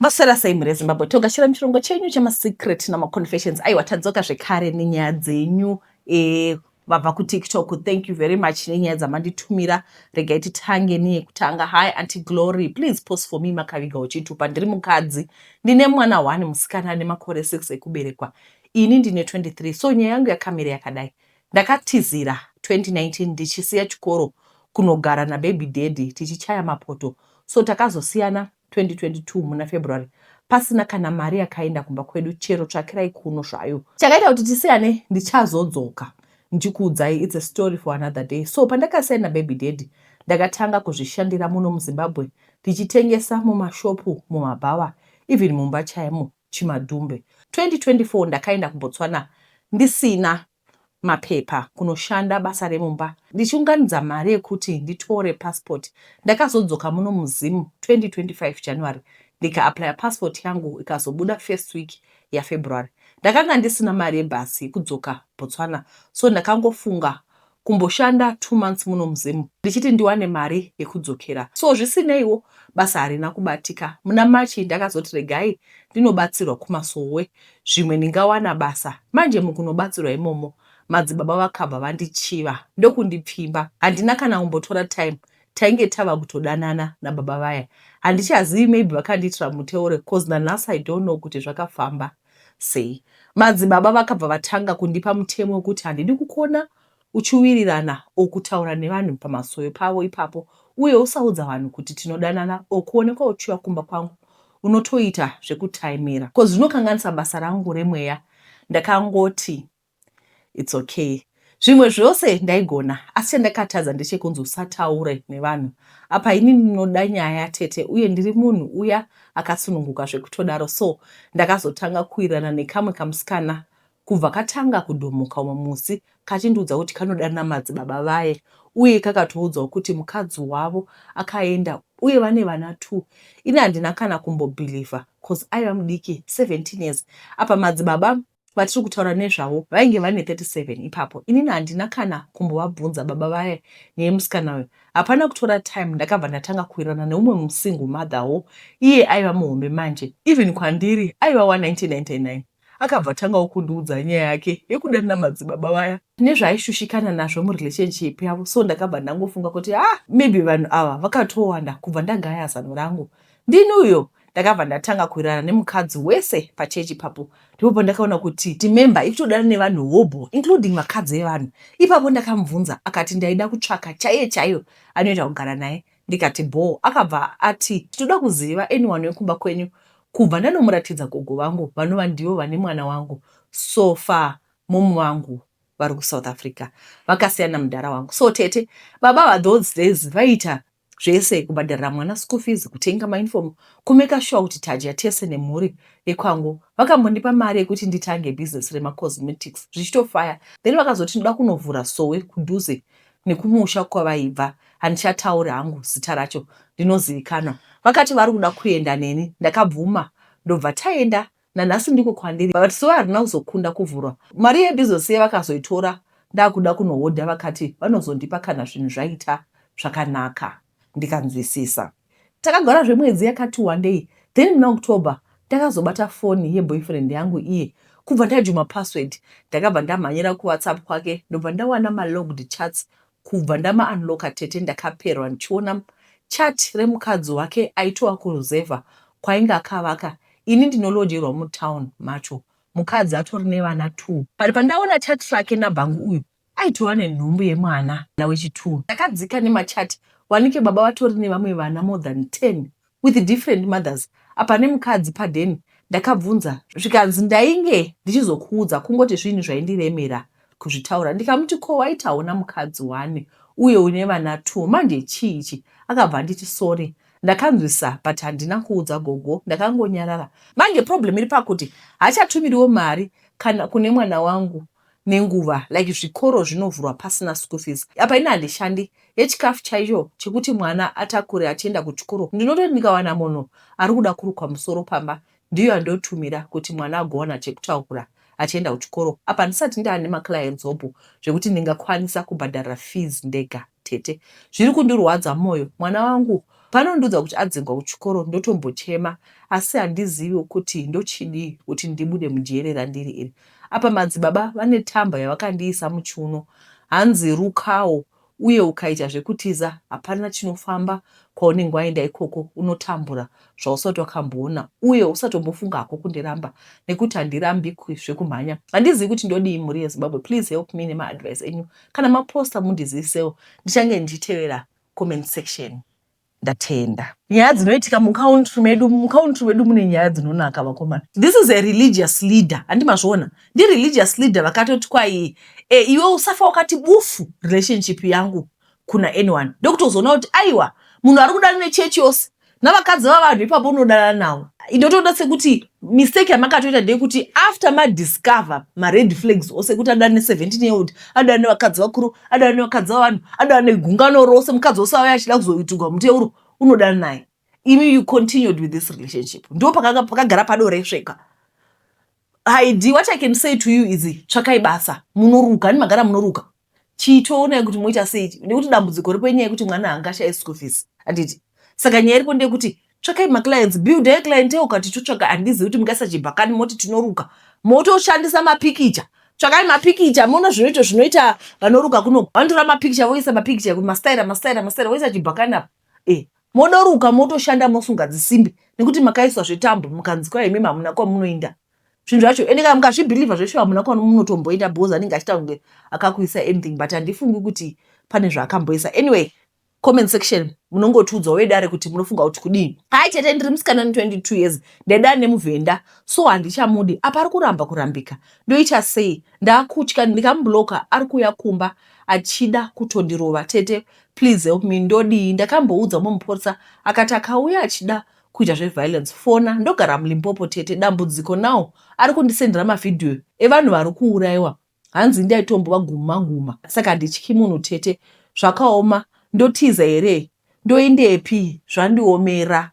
Maswera sei mhuri yeZimbabwe Toga chero muchirongo chenyu chemasecret namaconfessions aiwa tadzoka zvekare nenyaya dzenyu e, vabva kutiktok thank you very much nenyaya dzamanditumira regai titange neyekutanga hi anti glory please post for me makaviga uchitupa ndiri mukadzi ndine mwana one musikana ane makore 6 ekuberekwa ini ndine 23 so nyaya yangu yakamira yakadai Ndakatizira 2019 ndichisiya chikoro kunogara nababy daddy tichichaya mapoto so takazosiyana 2022 muna February pasina kana mari yakaenda kumba kwedu chero tsvakirai kuno zvayo. Chakaita kuti tisiyane ndichazodzoka ndichikuudzai it's a story for another day. So pandakasiyana nababy daddy ndakatanga kuzvishandira muno muZimbabwe ndichitengesa mumashopu, mumabhawa even mumba chaimo. Chimadumbe. 2024 ndakaenda kuBotswana ndisina mapepa kunoshanda basa remumba ndichiunganidza mari yekuti nditore passport. Ndakazodzoka muno muZim 2025 January ndikaapply passport yangu ikazobuda first week yaFebruary. Ndakanga ndisina mari yebus yekudzoka Botswana so ndakangofunga kumboshanda two months muno muZim ndichiti ndiwane mari yekudzokera so zvisineiwo basa harina kubatika. Muna March ndakazoti regai ndinobatsirwa kumasowe zvimwe ndingawana basa. Manje mukunobatsirwa imomo madzibaba vakabva vandichiva ndokundipfimba. Handina kana kumbotora time tainge tava kutodanana nababa vaya. Handichazivi maybe vakandiitira muteure coz nanhasi I don't know kuti zvakafamba Sei? Madzibaba vakabva vatanga kundipa mutemo wekuti handidi kukona uchiwirirana or kutaura nevanhu pamasowe pavo ipapo uye usaudza vanhu kuti tinodanana or kuonekwa uchiuya kumba kwangu unotoita zvekutaimira coz zvinokanganisa basa rangu remweya. Ndakangoti. It's okay. Zvimwe zvose ndaigona asi chandakatadza ndechekunzi usataure nevanhu apa ini ndinoda nyaya tete uye ndiri munhu uya akasununguka zvekutodaro so ndakazotanga kuirana nekamwe kamusikana kubva katanga kudhomoka umwe musi kachindiudza kuti kanoda namadzi baba vaye uye kakatoudzawo kuti mukadzi wavo akaenda uye vane vana two ini handina kana kumbobhilivha bcause aiva mudiki 17 years apa madzibaba vatiri kutaura nezvavo vainge vane 37 ipapo inini handina kana kumbovabvunza baba vaye nyaya yemusikana uyo hapana kutora time ndakabva ndatanga kuwirirana neumwe musingle mother wo iye aiva muhombe manje even kwandiri aiva wa 1999 akabva tangawo kundiudza nyaya yake yekudanira madzibaba vaya nezvaaishushikana nazvo murelationship yavo so ndakabva ndangofunga kuti ha ah, maybe vanhu ava vakatowanda kubva ndagaya zano rangu ndini uyo ndakabva ndatanga kuwirirana nemukadzi wese pachechi ipapo ndipo pandakaona kuti timemba ikutodana nevanhu hobho including vakadzi evanhu ipapo ndakamubvunza akati ndaida kutsvaka chaiye chaiyo anoita kugara naye ndikati bhoo akabva ati tinoda kuziva anyone wekumba kwenyu kubva ndanomuratidza gogo vangu vanova ndivo vane mwana wangu so far momu vangu vari kusouth africa vakasiyana mudhara wangu so tete baba vathose days vaita zvese kubhadharira mwana school fees kutenga mauniform kumeka shuwa kuti tadya tese nemhuri yekwangu vakambondipa mari yekuti nditange business remacosmetics zvichitofaya then vakazoti ndoda kunovhura sowe kudhuze nekumusha kwavaibva handichatauri hangu zita racho ndinozivikanwa vakati vari kuda kuenda neni ndakabvuma ndobva taenda nanhasi ndiko kwandiri but so harina kuzokunda kuvhurwa mari yedu izosiya vakazoitora ndakuda kunohodha vakati vanozondipa kana zvinhu zvaita zvakanaka ndikanzwisisa takagara zvemwedzi yakati wandei then muna october ndakazobata foni yeboyfriend yangu iye kubva ndajuma password ndakabva ndamhanyira kuwhatsapp kwake ndobva ndawana malogged chats Kubva ndama unlocker tete ndakaperwa ndichiona chat remukadzi wake aitova kuruzevha kwainge akavaka ini ndinolojerwa mutown macho mukadzi atori nevana two but pandaona chat rake nabhangu uyu aitova nenhumbu yemwana wechitwo ndakadzika nemachat wanike baba vatori nevamwe vana more than ten with different mothers apa nemukadzi paden ndakabvunza zvikanzi ndainge ndichizokuudza kungoti zvinhu zvaindiremera kuzvitaura ndikamuti ko waitawo namukadzi wani uye une vana two manje chii ichi akabva anditi sorry ndakanzwisa but handina kuudza gogo ndakangonyarara manje problem iri pakuti hachatumiriwo mari kana kune mwana wangu nenguva like zvikoro zvinovhurwa pasina school fees apa ini handishandi yechikafu chaicho chekuti mwana atakure achienda kuchikoro ndinototi ndikawana munhu ari kuda kurukwa musoro pamba ndiyo yandotumira kuti mwana agowana chekutaura achienda kuchikoro apa handisati ndaane maclients hope zvekuti ndingakwanisa kubhadharira fees ndega Tete. Zviri kundirwadza moyo mwana wangu panondiudza kuti adzingwa kuchikoro ndotombochema asi handiziviwo kuti ndochidii kuti ndibude mujere randiri iri. Apa madzibaba vane tamba yavakandiisa muchiuno hanzi rukawo uye ukaita zvekutiza hapana chinofamba kwaunenge waenda ikoko unotambura zvausati wakamboona uye usatombofunga hako kundiramba nekuti handirambikwi zvekumhanya. Handizivi kuti ndodii mhuri yeZimbabwe please help me nemaadvice enyu kana maposta mundizivisewo ndichange ndichitevera comment section ndatenda nyaya dzinoitika mucountry medu mucountry medu mune nyaya dzinonaka vakomana this is a religious leader handi mazviona ndireligious leader vakatoti kwai e, iwe usafa wakati bufu relationship yangu kuna anyone ndokutozoona kuti aiwa munhu ari kudana nechechi yose navakadzi vavanhu ipapo unodanana navo ndotoona sekuti mistake yamakatoita ndeyekuti after madiscover mared flags ose kuti adana ne17 year old adana nevakadzi vakuru adana nevakadzi vavanhu adana negungano rose mukadzi wose auya achida kuzoitigwa muteuro unodana naye imi you continued with this relationship ndo pakagara padoresveka hidi what i can say to you is tsvakai basa munoruka ani magara munoruka chiitoonai kuti moita sei nekuti dambudziko ripo inyaya yekuti mwana haangashaye school fees handiti saka nyaya iripo ndeyekuti tsvakai maclients buildai cliente ukati totsvaga handizivi kuti mungaisa chibhakani moti tinoruka motoshandisa mapikicha tsvakai mapikicha moona zvinoito zvinoita vanoruka kuno vanotora mapikicha voisa mapikicha mastaira mastaira mastaira voisa chibhakani apa e monoruka motoshanda mosunga dzisimbi nekuti makaiswa zvetambo mukanzi kwaimi mamuna kwamunoinda zvinhu zvacho ende kana mukazvibhilivha zveshe hamuna kuva munotomboita because anenge achita kunge akakuisa anything but handifungi kuti pane zvaakamboisa anyway comment section munongotiudzawo vedare kuti munofunga kuti kudii hai chete ndiri musikana ane 22 years ndaida nemuvhenda so handichamudi apa ari kuramba kurambika ndoita sei ndaakutya ndikamubloka ari kuuya kumba achida kutondirova tete please help me ndodii ndakamboudza mumupurisa akati akauya achida kuita zveviolence fona ndogara mulimpopo tete dambudziko now ari kundisendera mavhidhiyo evanhu vari kuuraiwa hanzi ndaitombova guma guma saka handityi munhu tete zvakaoma ndotiza here ndoendepi zvandiomera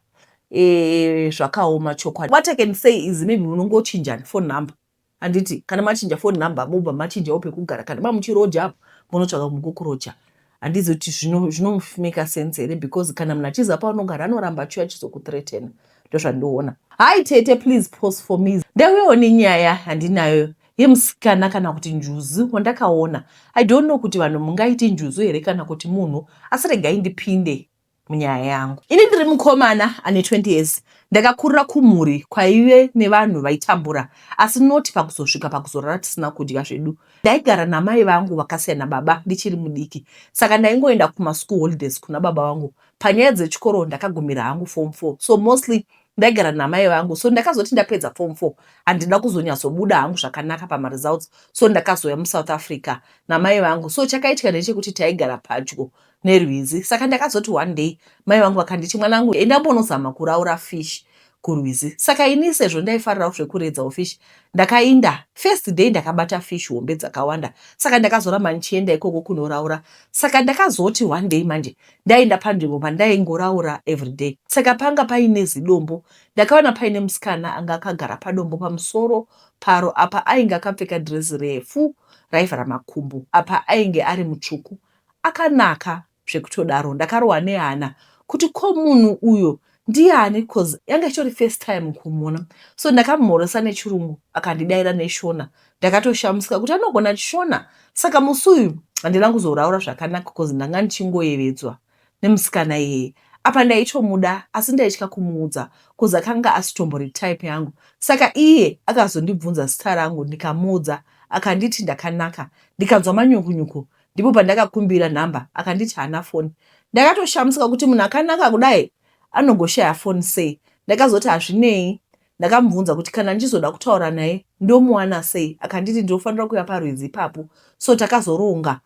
e, zvakaoma chokwadi what i can say is maybe munongochinjani phone number Handiti kana machinja phone number mobva machinjawo pekugara kana mamuchiroja apo monotsvaga munhu kokuroja handizi kuti zvinomeka sense here because kana munhu achiziva paunogara anoramba achiuya achizokutretena ndozvandiona hai tete please post for me ndauyawo nenyaya handinayo yemusikana kana kuti njuzu wandakaona i don't know kuti vanhu mungaiti njuzu here kana kuti munhu asi regai ndipinde munyaya yangu. Ini ndiri mukomana ane 20 years ndakakurira kumhuri kwaive nevanhu vaitambura asi not pakuzosvika pakuzorara tisina kudya zvedu. Ndaigara namai vangu vakasiya nababa ndichiri mudiki saka ndaingoenda kumaschool holidays kuna baba vangu. Panyaya dzechikoro ndakagumira hangu form 4 so mostly ndaigara namai vangu so ndakazoti ndapedza form 4 handina kuzonyatsobuda hangu zvakanaka pamaresults so ndakazouya musouth africa namai vangu so chakaitika ndechekuti taigara padyo nerwizi saka ndakazoti one day mai vangu vakanditi mwana wangu enda umbonozama kuraura fish kurwizi saka ini sezvo ndaifarirawo zvekuredzawo fish ndakainda first day ndakabata fish hombe dzakawanda saka ndakazoramba ndichienda ikoko kunoraura saka ndakazoti one day manje ndaienda panzvimbo pandaingoraura everyday saka panga paine zidombo ndakaona paine musikana anga akagara padombo pamusoro paro apa ainge akapfeka dress refu raivhara makumbo apa ainge ari mutsvuku akanaka zvekutodaro ndakarohwa nehana kuti ko munhu uyo ndiani coz yanga ichitori first time kumuona so ndakamhoresa nechirungu akandidaira neshona ndakatoshamisika kuti anogona chishona saka musi uyu handina kuzoraura zvakanaka coz ndanga ndichingoyevedzwa nemusikana iyeye apa ndaitomuda asi ndaitya kumuudza coz akanga asitombori type yangu saka iye akazondibvunza zita rangu ndikamuudza akanditi ndakanaka ndikanzwa manyukunyuku ndipo pandakakumbira nhamba akanditi haana foni ndakatoshamusika kuti munhu akanaka kudai anogoshaya foni sei ndakazoti hazvinei ndakamubvunza kuti kana ndichizoda kutaura naye ndomuwana sei akanditi ndinofanira kuya parwizi ipapo so takazoronga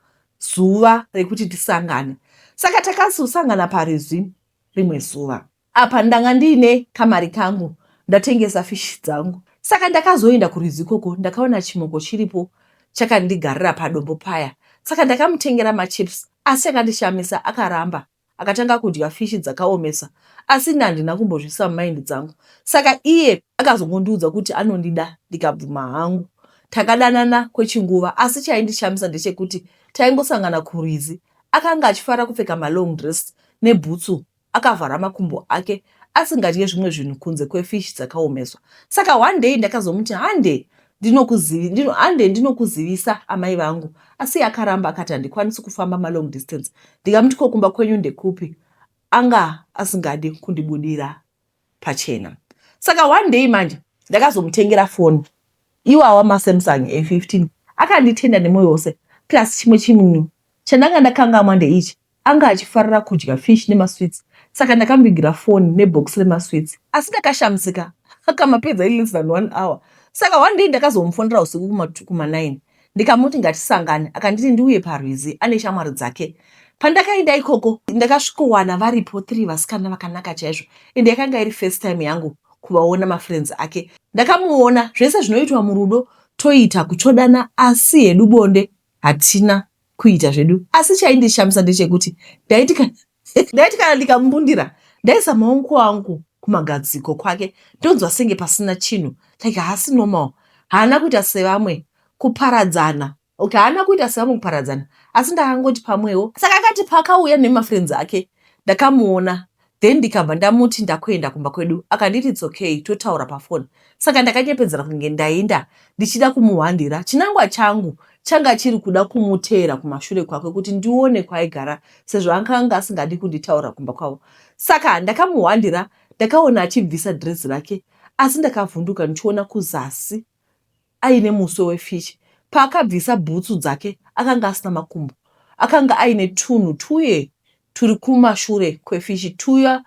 zuva rekuti tisangane saka takazosangana parwizi rimwe zuva Apa ndanga ndiine kamari kangu ndatengesa fish dzangu saka ndakazoenda kurwizi ikoko ndakaona chimoko chiripo chakandigarira padombo paya saka ndakamutengera machips asi akandishamisa akaramba akatanga kudya fishi dzakaomesa asi ini handina kumbozvisa mumaindi dzangu saka iye akazongondiudza kuti anondida ndikabvuma hangu takadanana kwechinguva asi chaindishamisa ndechekuti taingosangana kurwizi akanga achifara kupfeka malong dress nebhutsu Akavhara makumbo ake asingadye zvimwe zvinhu kunze kwefish dzakaomeswa. Saka one day ndakazomuti hande ndinokuzivi ndino hande ndinokuzivisa amai vangu asi akaramba akati handikwanisi kufamba malong distance ndikamuti ko kumba kwenyu ndekupi anga asingadi kundibudira pachena saka one day manje ndakazomutengera foni iwawa masamsung a15 akanditenda nemoyo wose plus chimwe chinhu chandanga ndakangamwa ndeichi anga achifarira kudya fish nemasweets saka ndakambigira foni nebhokisi remasweets asi ndakashamisika akamapedza in less than one hour saka one day ndakazomufonera usiku kuma9 ndikamuti ngatisangane akanditi ndiuye parwizi ane shamwari dzake pandakaenda ikoko ndakasvikowana varipo three vasikana vakanaka chaizvo ende yakanga iri first time yangu kuvaona mafriends ake ndakamuona zvese zvinoitwa murudo toita kutsvodana asi hedu bonde hatina kuita zvedu asi chaindishamisa ndechekuti ndaiti kana Ndaiti kana ndikamumbundira ndaisa maoko angu kumagadziko kwake ndonzwa senge pasina chinhu like haasi normal haana kuita sevamwe kuparadzana okay haana kuita sevamwe kuparadzana asi ndakangoti pamwewo saka akati paakauya nemafriends ake ndakamuona then ndikabva ndamuti ndakuenda kumba kwedu akanditi it's okay totaura pafoni saka ndakanyepedzera kunge ndainda ndichida kumuhwandira chinangwa changu changa chiri kuda kumuteera kumashure kwake kuti ndione kwaaigara sezvo ankanga asingadi kunditaura kumba kwavo saka ndakamuhwandira ndakaona achibvisa dress rake asi ndakavhunduka ndichiona kuzasi aine muswe wefish. Paakabvisa bhutsu dzake akanga asina makumbo. Akanga aine tunhu tuye turi kumashure kwefishi tuya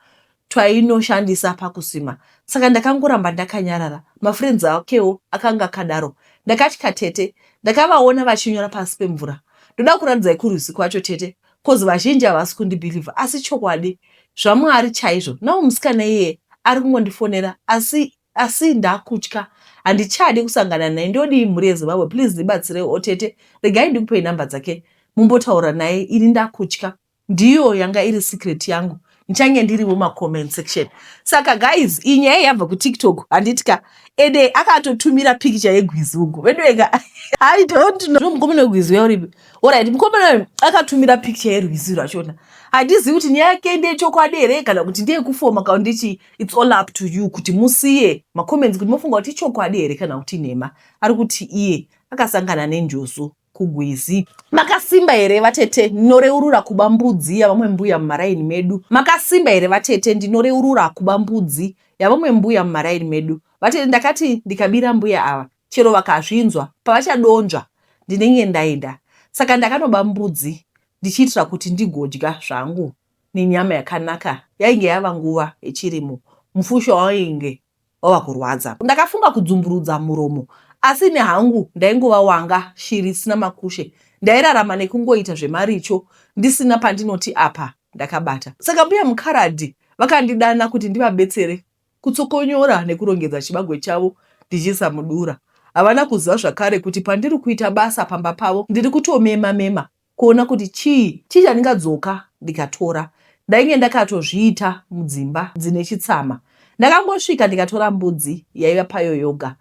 twainoshandisa pakusima. Saka ndakangoramba ndakanyarara. Mafriends akewo akanga akadaro. Ndakatya tete. Ndakavaona vachinyora pasi pemvura. Ndoda kuratidzai kurwizi kwacho tete coz vazhinji havasi kundibhilivha asi chokwadi zvaMwari chaizvo. Now musikana iyeye ari kungondifonera asi Asi ndakutya handichadi kusangana naye ndodii mhuri yezimbabwe please ndibatsirei otete oh, regai ndikupei number dzake mumbotaura naye ini ndakutya ndiyo yanga iri secret yangu ndichange ndiriwo macomment section saka guys iyi nyaya yabva kutiktok handitika ede akatotumira pikicha yegwizi uko vedueka i don't know mukomana wegwizi uya uripi orit mukomana akatumira pikicha yerwizi rwachona handizivi kuti nyaya yake ndeyechokwadi here kana kuti ndeyekufoma kana ndechii It's all up to you kuti musiye macomments kuti mofunga kuti ichokwadi here kana kuti nhema. Ari kuti iye akasangana nenjuzu kugwizi. Makasimba here vatete ndinoreurura kuba mbudzi yavamwe mbuya mumaraini medu. Makasimba here vatete ndinoreurura kuba mbudzi yavamwe mbuya mumaraini medu. Vatete ndakati ndikabira mbuya ava chero vakazvinzwa pavachadonzva ndinenge ndaida. Saka ndakanoba mbudzi ndichiitira kuti ndigodya zvangu. nenyama yakanaka yainge yava nguva yechirimo mufushwa wainge wava kurwadza. Ndakafunga kudzumburudza muromo asi ini hangu ndaingova wanga shiri isina makushe ndairarama nekungoita zvemaricho ndisina pandinoti apa ndakabata. Saka mbuya Mukaradhi vakandidana kuti ndivabetsere kutsokonyora nekurongedza chibagwe chavo ndichiisa mudura. Havana kuziva zvakare kuti pandiri kuita basa pamba pavo ndiri kutomema mema kuona kuti chii chii chandingadzoka ndikatora. Ndainge ndakatozviita mudzimba dzine chitsama. Ndakangosvika ndikatora mbudzi yaiva payo yoga.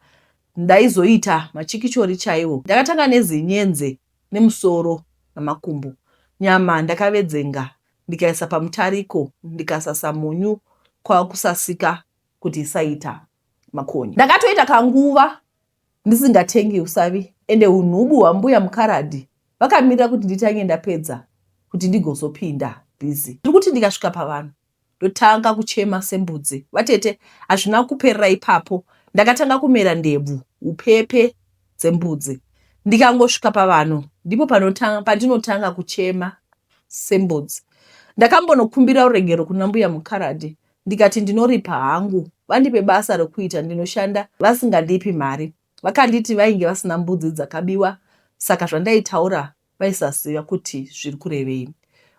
Ndaizoita machikichori chaiwo. Ndakatanga nezinyenze nemusoro namakumbo. Nyama ndakavedzenga ndikaisa pamutariko ndikasasa munyu kwava kusasika kuti isaita makonye. Ndakatoita kanguva ndisingatengi usavi ende unhubu hwambuya mukaradhi vakamirira kuti nditange ndapedza kuti ndigozopinda busy ndikuti ndikasvika pavanhu ndotanga kuchema sembudzi vatete hazvina kuperera ipapo ndakatanga kumera ndebvu upepe dzembudzi ndikangosvika pavanhu ndipo pandinotanga kuchema sembudzi ndakambonokumbira uregero kuna mbuya mukaradhi ndikati ndinoripa hangu vandipe basa rokuita ndinoshanda vasingandipi mari vakanditi vainge vasina mbudzi dzakabiwa saka zvandaitaura vaisaziva kuti zviri kurevei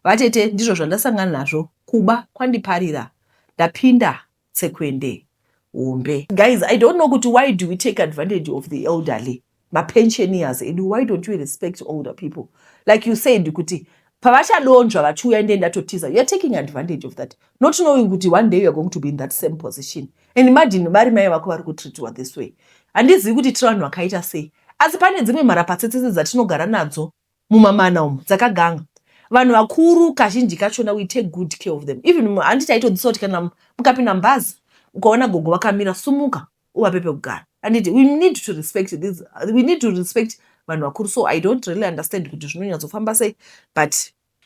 vatete ndizvo zvandasangana nazvo kuba kwandiparira ndapinda tsekwende hombe guys i don't know kuti why do we take advantage of the elderly mapensioners edu why don't you respect older people like you said kuti pavachadonzva vachiuya ndiye ndatotiza youare taking advantage of that not knowing kuti one day youare going to be in that same position and imagine vari mai vako vari kutreatiwa this way handizivi kuti tiri vanhu vakaita sei asi pane dzimwe mharapatsetsese dzatinogara nadzo mumamana umu dzakaganga vanhu vakuru kazhinji kachona we take good care of them even handi taitodzisa kuti kana mukapinda mubhazi ukaona gogo vakamira sumuka uvape pekugara anditi we need to respect this we need to respect vanhu vakuru so i don't really understand kuti zvinonyatsofamba sei but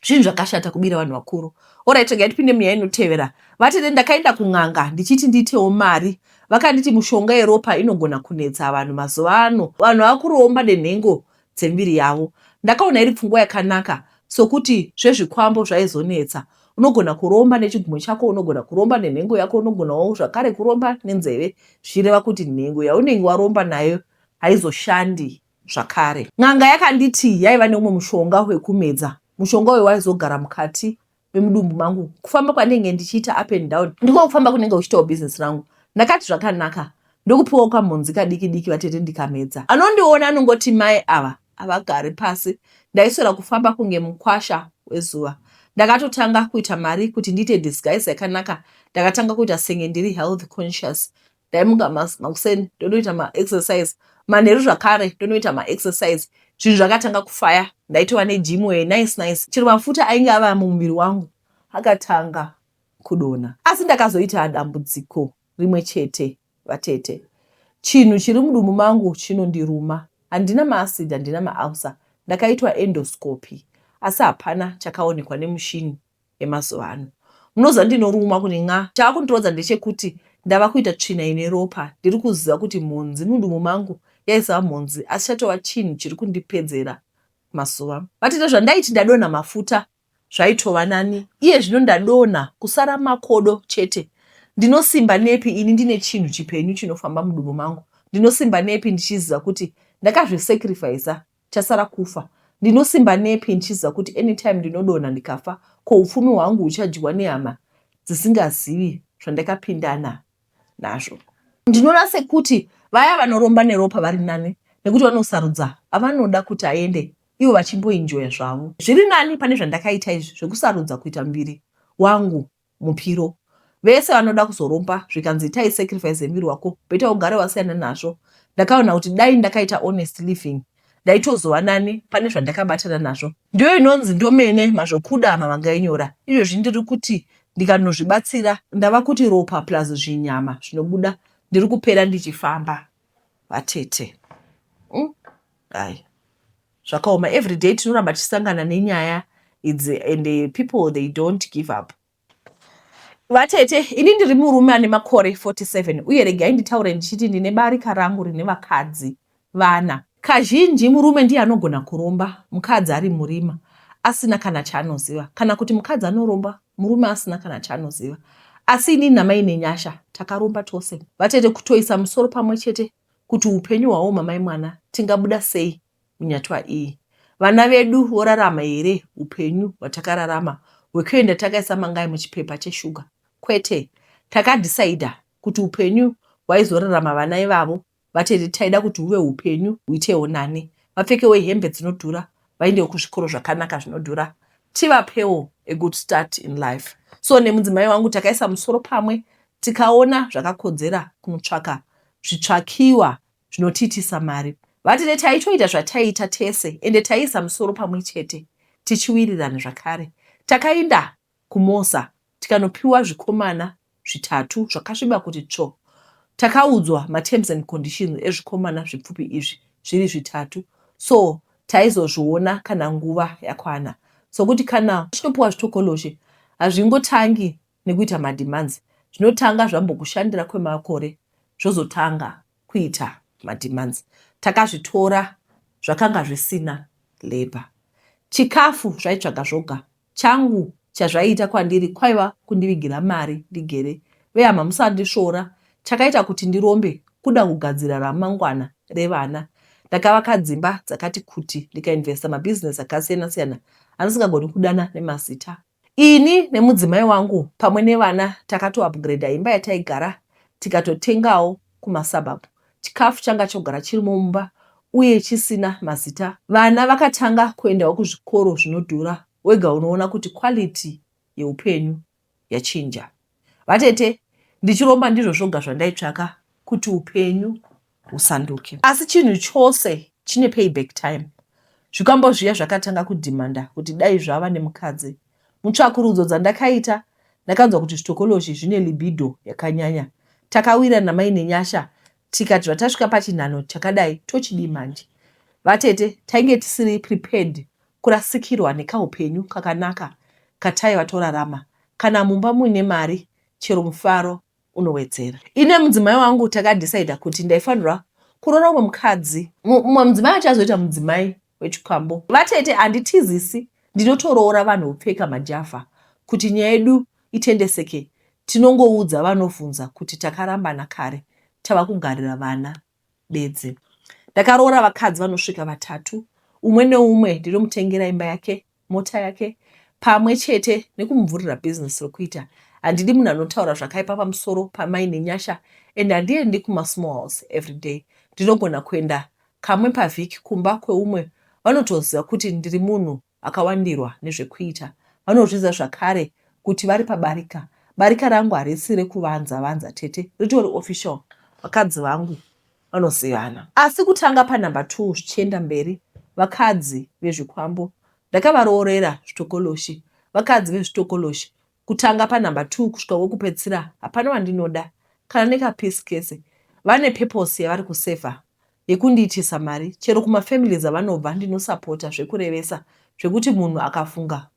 zvinhu zvakashata kubira vanhu vakuru orit rega tipinde munyaya inotevera vatete ndakaenda kun'anga ndichiti ndiitewo mari vakanditi mushonga yeropa inogona kunetsa vanhu mazuva ano vanhu vakuroomba denhengo dzemiviri yavo. Ndakaona iri pfungwa yakanaka sokuti zvezvikwambo zvaizonetsa. Unogona kuromba nechigumwe chako, unogona kuromba nenhengo yako, unogonawo zvakare kuromba nenzeve, zvichireva kuti nhengo yaunenge waromba nayo haizoshandi zvakare. N'anga yakanditi yaiva neumwe mushonga wekumedza. Mushonga uyu waizogara mukati memudumbu mangu kufamba kwanenge ndichiita up and down ndiko kufamba kunenge uchitawo business rangu ndakati zvakanaka ndokupiwa kamhonzi kadiki diki vatete ndikamedza anondiona anongoti mai ava avagari pasi ndaiswera kufamba kunge mukwasha wezuva ndakatotanga kuita mari kuti ndiite disguise yakanaka ndakatanga kuita senge ndiri health conscious ndaimuka makuseni ndonoita maexercise manheru zvakare ndonoita maexercise zvinhu zvakatanga kufaya ndaitova nejimu wee nice nice chero mafuta ainge ava mumuviri wangu akatanga kudona asi ndakazoita dambudziko rimwe chete vatete chinhu chiri mudumbu mangu chinondiruma handina maacid handina maausa ndakaitwa endoscopy asi hapana chakaonekwa nemushini yemazuva ano. Munoziva ndinorumwa kuti nxa. Chava kundirodza ndechekuti ndava kuita tsvina ine ropa. Ndiri kuziva kuti mhonzi mudumbu mangu yaisava mhonzi asi chatova chinhu chiri kundipedzera mazuva. Vati nezvandaiti ndadonha mafuta zvaitova nani. Iye zvino ndadonha kusara makodo chete. Ndinosimba nepi ini ndine chinhu chipenyu chinofamba mudumbu mangu? Ndinosimba nepi ndichiziva kuti ndakazvisacrificer Chasara kufa. Ndinosimba nepi ndichiziva kuti anytime ndinodonha ndikafa ko hupfumi hwangu huchadyiwa nehama dzisingazivi zvandakapindana nazvo. Ndinoona sekuti vaya vanoromba neropa vari nani nekuti vanosarudza avanoda kuti aende ivo vachimboinjoya zvavo. Zviri nani pane zvandakaita izvi zvekusarudza kuita muviri wangu mupiro vese vanoda kuzoromba zvikanzi itai sacrifice yemuviri wako beta ugare wasiyana nazvo ndakaona kuti dai ndakaita honest living ndaitozova nani pane zvandakabatana nazvo ndiyo inonzi ndomene mazvokuda mavanga inyora izvozvi ndiri kuti ndikanozvibatsira ndava kuti ropa plus zvinyama zvinobuda ndiri kupera ndichifamba vatete mm. Hai zvakaoma everyday tinoramba tichisangana nenyaya idzi and eh, people they don't give up vatete ini ndiri murume ane makore 47 uye regai nditaure ndichiti ndine barika rangu rine vakadzi vana kazhinji murume ndiye anogona kuromba mukadzi ari murima asina kana chaanoziva kana kuti mukadzi anoromba murume asina kana chaanoziva asi inini namai nenyasha takaromba tose vatete kutoisa musoro pamwe chete kuti upenyu hwawo mamai mwana tingabuda sei munyatwa iyi. Vana vedu vorarama here upenyu hwatakararama hwekuenda takaisa mangai muchipepa cheshuga? Kwete. Takadhisaidha kuti upenyu hwaizorarama vana ivavo vatete taida kuti huve upenyu huitewo nani, vapfekewo hembe dzinodhura, vaendewo kuzvikoro zvakanaka zvinodhura tivapewo a good start in life so nemudzimai wangu takaisa musoro pamwe tikaona zvakakodzera kunotsvaka zvitsvakiwa zvinotiitisa mari vatete taitoita zvataiita tese ende taiisa musoro pamwe chete tichiwirirana zvakare takainda kumosa tikanopiwa zvikomana zvitatu zvakasviba kuti tsvo. Takaudzwa materms and conditions ezvikomana zvipfupi izvi zviri zvitatu so taizozviona kana nguva yakwana sokuti kana uchinopiwa zvitokoloshe hazvingotangi nekuita mademands zvinotanga zvambokushandira kwemakore zvozotanga kuita mademands. Takazvitora zvakanga zvisina labour. Chikafu zvaitsvaga zvoga Changu chazvaiita kwandiri kwaiva kundivigira mari ndigere. Vehama musandisvora, chakaita kuti ndirombe kuda kugadzira ramangwana revana. Ndakavaka dzimba dzakati kuti ndikainvesta mabusiness akasiyana siyana andisingagoni kudana nemazita. Ini nemudzimai wangu pamwe nevana takatoupgrader imba yataigara tikatotengawo kumasuburb Chikafu changa chogara chirimo mumba uye chisina mazita. Vana vakatanga kuendawo kuzvikoro zvinodhura wega unoona kuti quality yeupenyu yachinja. Vatete ndichiromba ndizvo zvoga zvandaitsvaka kuti upenyu husanduke. Asi chinhu chose chine payback time. Zvikwambo zviya zvakatanga kudhimanda kuti dai zvava nemukadzi. Mutsvakurudzo dzandakaita ndakanzwa kuti zvitokoloshi zvine libido yakanyanya. Takawira namai Nenyasha tikati zvatasvika pachinhanho chakadai tochidii manje. Vatete tainge tisiri prepared kurasikirwa nekahupenyu kakanaka kataiva torarama. Kana mumba muine mari chero mufaro unowedzera. Ini nemudzimai wangu takadecider kuti ndaifanirwa kuroora umwe mukadzi. Mumwe mudzimai wacho azoita mudzimai wechikwambo. Vatete handitizisi ndinotoroora vanhu vopfeka majavha kuti nyaya yedu itendeseke tinongoudza vanovhunza kuti takarambana kare tava kugarira vana. bedzi. Ndakaroora vakadzi vanosvika vatatu, umwe neumwe ndinomutengera imba yake, mota yake pamwe chete nekumuvhurira bhizinesi rokuita. Handidi munhu anotaura zvakaipa pamusoro pamai Nenyasha and handiendi kumasmalls everyday. Ndinogona kuenda kamwe pavhiki kumba kweumwe vanotoziva kuti ndiri munhu Vakawandirwa nezvekuita vanozviziva zvakare kuti vari pabarika. Barika rangu harisi rekuvanza vanza tete, ritori official. Vakadzi vangu vanozivana. Asi kutanga panumber two zvichienda mberi vakadzi vezvikwambo ndakavaroorera zvitokoloshi. Vakadzi vezvitokoloshi kutanga panumber two kusvika wekupedzisira hapana wandinoda kana nekapiece kese vane purpose yavari kusaver yekundiitisa mari chero kumafamilies avanobva ndinosapota zvekurevesa zvekuti munhu akafunga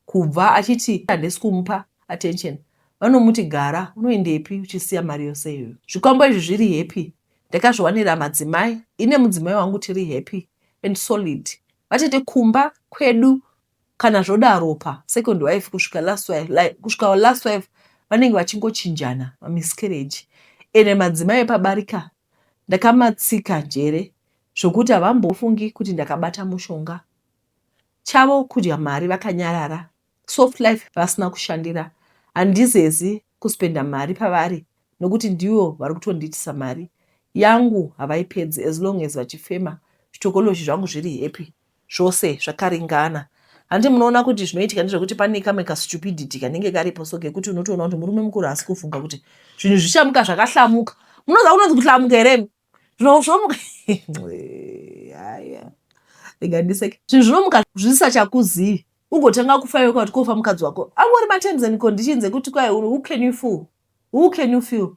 kubva achiti handisi kumupa attention vanomuti gara unoendepi uchisiya mari yose iyoyo zvikwambo izvi zviri happy ndakazviwanira madzimai ine mudzimai wangu tiri happy and solid vatete kumba kwedu kana zvodaro pa second wife kusvika last wife like, kusvika last wife vanenge vachingochinjana mamiscarriage ende madzimai epabarika ndakamatsika njere zvokuti havambofungi kuti ndakabata mushonga chavo kudya mari vakanyarara soft life vasina kushandira handizezi kuspenda mari pavari nokuti ndivo vari kutondiitisa mari yangu havaipedzi as long as vachifema zvitokoloshi zvangu zviri happy zvose zvakaringana. Handi munoona kuti zvinoitika ndezvekuti pane kamwe kastupidity kanenge karipo so kekuti unotoona kuti murume mukuru haasi kufunga kuti zvinhu zvichamuka zvakahlamuka. Munoziva kunonzi kuhlamuka here? Zvinhu zvinomuka rega ndiseke. Zvinhu zvinomuka zvisisachakuzivi ugotanga kufaiwa kuti kofa mukadzi wako angori materms and conditions ekuti kwai who can you fool who can you feel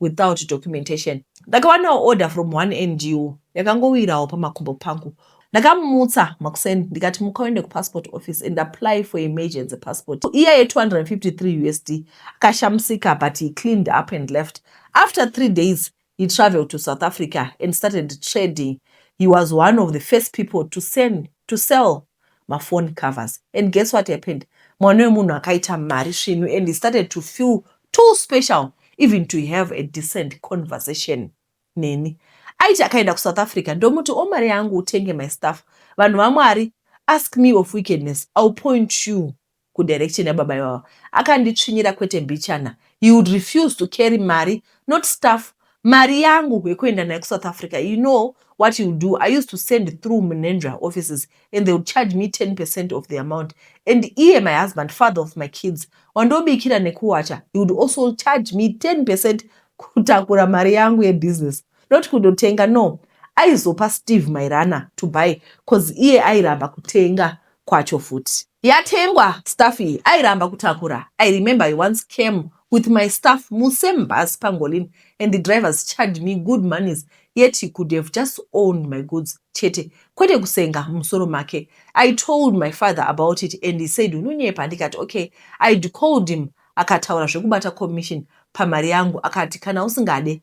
without documentation. Ndakawanawo order from one NGO yakangowirawo pamakumbo pangu. Ndakamutsa makuseni ndikati muka uende kupassport office and apply for emergency passport. Iya ye 253 USD akashamusika but he cleaned up and left. After three days he traveled to South Africa and started trading. He was one of the first people to send to sell mafoni covers and guess what happened mwana wemunhu akaita mari svinu and he started to feel too special even to have a decent conversation neni aiti akaenda kusouth africa ndomuti o oh, mari yangu utenge my staff vanhu vamwari ask me of wickedness ill point you ku direction ya baba ivava akanditsvinyira kwete mbichana he would refuse to carry mari not stuff mari yangu hwekuenda nayo ku South Africa you know what he would do I used to send through Mnenzvra offices and they would charge me 10% of the amount and iye my husband father of my kids wandobikira nekuwacha he would also charge me 10% kutakura mari yangu ye business Not kundotenga no aizopa Steve my runner to buy coz iye airamba kutenga kwacho futi. Yatengwa stuff iyi airamba kutakura I remember he once came with my stuff mu same bus pangolin and the drivers charged me good monies yet he could have just owned my goods chete kwete kusenga mumusoro make. I told my father about it and he said unonyepa ndikati ok. I'd called him akataura zvekubata commission pamari yangu akati kana usingade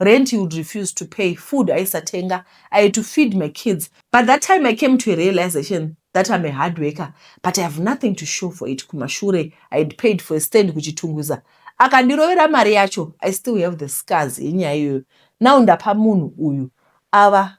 rent he would refuse to pay food aisatenga i had to feed my kids but that time i came to a realization that i'm a hard worker but i have nothing to show for it kumashure i had paid for a stand kuchitungwiza akandirovera mari yacho i still have the scars yenyaya iyoyo now ndapa munhu uyu ava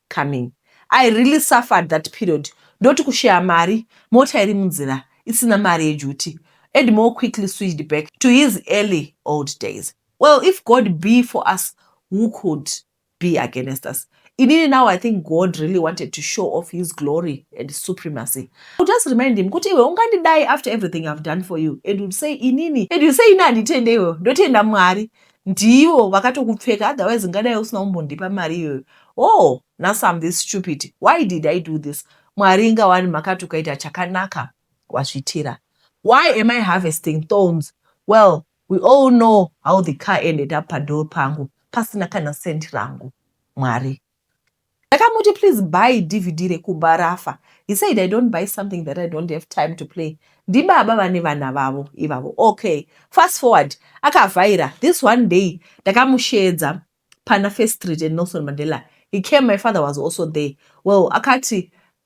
coming I really suffered that period ndoti kushaya mari mota iri munzira isina mari yeduty Edmore quickly switched back to his early old days well if God be for us who could be against us inini now I think God really wanted to show off his glory and supremacy I would just remind him kuti iwe ungandidai after everything I've done for you and would say inini and you say ini handitende iwewe ndotenda Mwari Ndivo vakatokupfeka otherwise ungadai usina kumbondipa mari iyoyo. Oh, nhasi I'm this stupid. Why did I do this? Mwari inga wani makati ukaita chakanaka wazvitira. Why am I harvesting thorns? Well, we all know how the car ended up padoor pangu pasina kana cent rangu. Mwari. Ndakamuti please buy DVD rekumba rafa. He said I don't buy something that I don't have time to play. Ndibaba vane vana vavo ivavo. Okay. Fast forward. Akavhaira. This one day ndakamusheedza pana First Street and Nelson Mandela. He came, my father was also there. Well, akati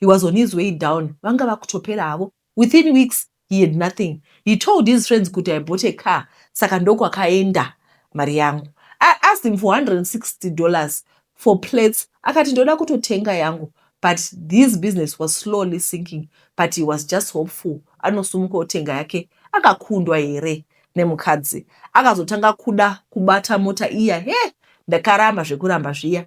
he was on his way down vanga vakutopera havo within weeks he had nothing he told his friends kuti i bought a car saka ndokwakaenda mari yangu i asked him for 160 dollars for plates akati ndoda kutotenga yangu but his business was slowly sinking but he was just hopeful anosumuka otenga yake akakundwa here nemukadzi akazotanga kuda kubata mota iya he ndakaramba zvekuramba zviya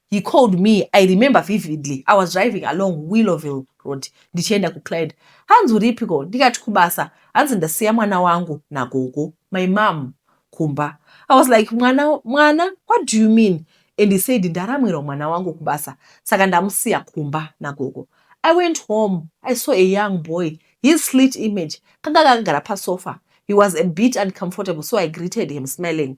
He called me, I remember vividly, I was driving along Willoville Road ndichienda kuClyde. Hanzi uripiko? Ndikati kubasa. Hanzi ndasiya mwana wangu nagogo, my mom, kumba. I was like, mwana, mwana, what do you mean? And he said, ndaramwirwa mwana wangu kubasa, saka ndamusiya kumba nagogo. I went home, I saw a young boy, his slit image, kanga kakagara pasofa. He was a bit uncomfortable, so I greeted him smiling.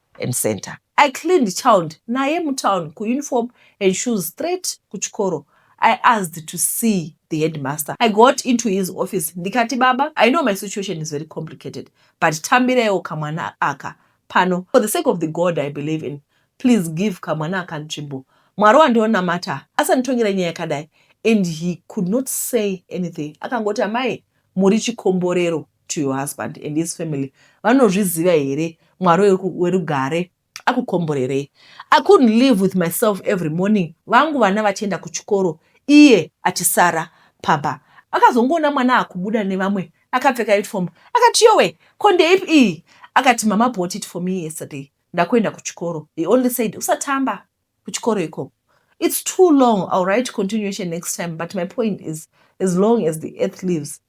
and center. I cleaned child naye mutown kuuniform and shoes straight kuchikoro. I asked to see the headmaster. I got into his office ndikati, baba, I know my situation is very complicated, but tambireiwo kamwana aka pano. For the sake of the God I believe in, please give kamwana aka nzvimbo. Mwari wandionamata asanditongera nyaya yakadai. And he could not say anything. Akangoti, amai, muri chikomborero. to your husband and his family vanozviziva here mwari werugare akukomborerei i couldn't live with myself every morning vangu vana vachienda kuchikoro iye achisara pamba akazongoona mwana akubuda nevamwe akapfeka uniform akati yowe ko ndeipi iyi akati mama bought it for me yesterday ndakuenda kuchikoro he only said usatamba kuchikoro ikoko it's too long ill write continuation next time but my point is as long as the earth lives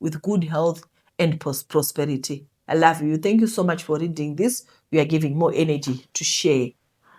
with good health and prosperity i love you thank you so much for reading this you are giving more energy to share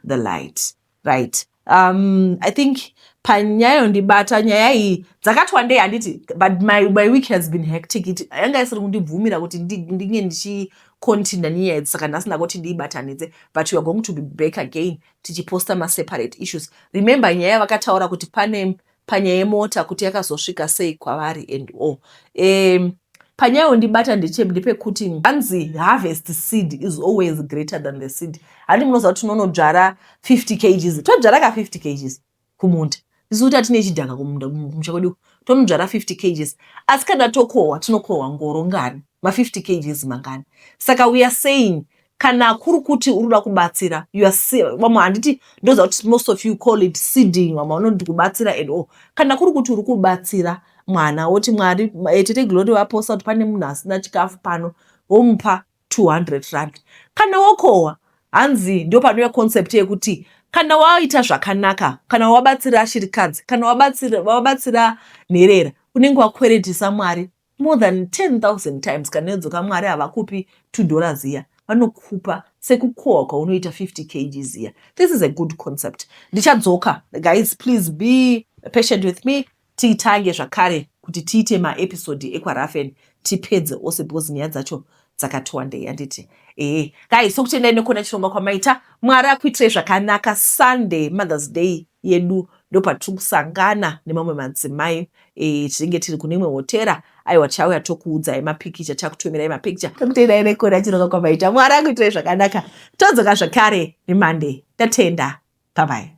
the light right um i think panyaya yondibata nyaya iyi dzakati wandei handiti but my, my week has been hectic it yanga isiri kundibvumira kuti ndinge ndichicontinue nenyaya idzi saka nhasi ndakoti ndiibatanidze but weare going to be back again tichiposta maseparate issues remember nyaya vakataura kuti pane panyaya yemota kuti yakazosvika sei kwavari and o um, panyaya yondibata ndepekuti hanzi harvest seed is always greater than the seed handi munoziva kuti tinonodzvara 50 kgs todzvara ka 50 kgs kumunda tisu kuti hatine chidhaka kumunda kumusha kwedu tonodzvara 50 kgs asi kana tokohwa tinokohwa ngoro ngani ma 50 kgs mangani saka weare saying kana kuri kuti uri kuda kubatsira vamwe handiti ndoziva kuti most of you call it seeding vamwe vanoti kubatsira and all kana kuri kuti uri kubatsira mwana woti mwari eh, tete glory vaposa kuti pane munhu asina chikafu pano womupa 200 rand kana wokohwa hanzi ndo panouya concept yekuti kana waita zvakanaka kana wabatsira shirikadzi kana wabatsira nherera unenge wakweretesa mwari more than 10000 times kana yodzoka mwari havakupi two dollar ziya vanokupa sekukohwa kwaunoita 50 kg ziya this is a good concept ndichadzoka guys please be patient with me tiitange zvakare kuti tiite maepisode ekwarafen tipedze ose because nyaya dzacho dzakati wandei handiti ee guys sokutendai nekuona chirongwa kwamaita mwari akuitirai zvakanaka sunday mothers day yedu ndopatiri kusangana nemamwe madzimai e, tinenge tiri kune imwe hotera aiwa tichauya tokuudzai mapikicha tichakutumirai mapikicha tokutendai nekuona chirongwa kwamaita mwari akuitirai zvakanaka todzoka zvakare nemonday tatenda bye bye